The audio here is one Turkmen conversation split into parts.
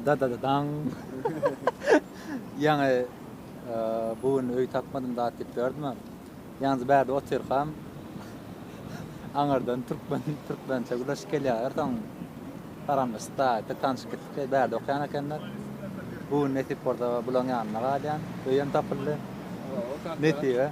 Dadadadaň. Ýaňy bu gün öý tapmadym zat diýip ýördüm-ä. Ýalňyz bärde otyrkam aňyrdan türkmen türkmençe gürleşip gelýärler. Soň salamlaşyp-da bir tanyşyp gitdik. Bärde okaýan ekenler. Bu gün nesip bolsa bularyň ýanynda galýan. Öýem tapyldy. Nesibe.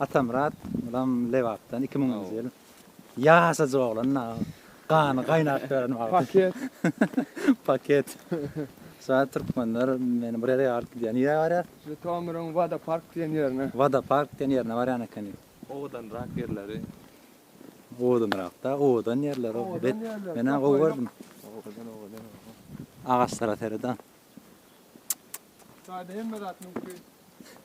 Atamyrat bulam Lebapdan iki müňünji ýyl ýaşajyk oglan da gany gaýnap beren wagty. Paket. Paket. Şaýat türkmenler meni bir ýere alyp gidýär. Nirä barýar? Žytomyryň Wada park diýen ýerine. Wada park diýen ýerine barýan ekeni. Owadanrak ýerleri. Owadanrakda owadan ýerleri. Bet menä gowy gördüm. Owadan owadan owadan. Agaçlara seret a. Çaýda hemme zat mümkin.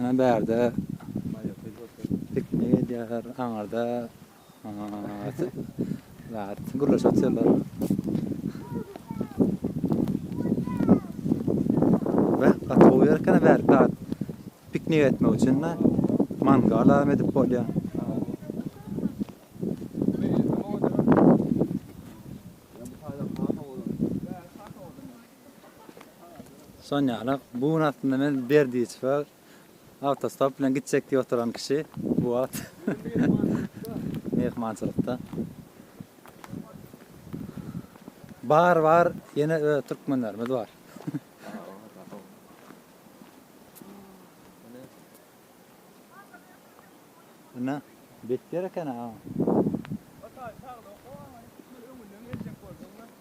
Ine bärde piknik edýärler, aňyrda gürleşip otyrlar. Gaty gowy ýer eken bärde piknik etmek üçin mangal hem edip bolýar. Sonýalak, bu gün aslynda men Berdiçewe awtostop bilen gitjek diýip oturan kişi bu wagt myhmançylykda. Bar, bar, ýene öz türkmenlerimiz bar. Ine, bet ýer eken-ä.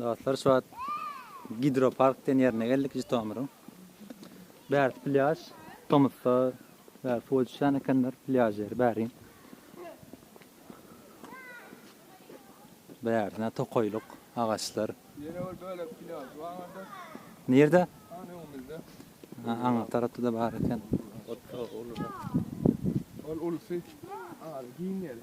Dostlar şu wagt gidropark diýen ýerine geldik Žitomyryň. Bärsi plýaž. Tomusda bäri suwa düşýän ekenler plýaž ýeri bäri. Bäri tokaýlyk, agaçlar. Ýene bir bölek plýaž bardy. Nirde? Ana öňümizde. Ha, aňa tarapda-da bar eken. Ol ulusy. Ara giň ýeri.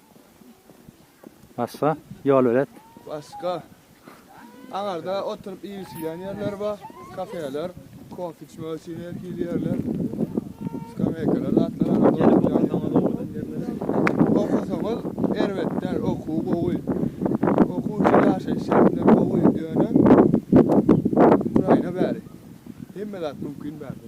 Başga ýol belet. Başga aňarda oturyp iýilşilýän ýerler bar, kafeler, kofe içmek üçin erkili ýerler, skameýkalar zatlar aňarda oturýan ýerler. Okasaňyz erbet däl, okuw gowy. Okuw üçin ýaşaýyş şertleri gowy, ýöne Ukraina bäri hemme zat mümkin bärde.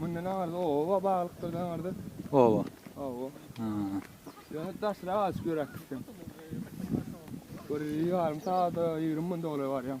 Mundan aňyrda oba baglykdyr da aňyrda. Oba. Oba. Ha. Ýöne daşra açyp ýöräk gitdim. Bir ýarym sagat, 20 minut dolar barýan.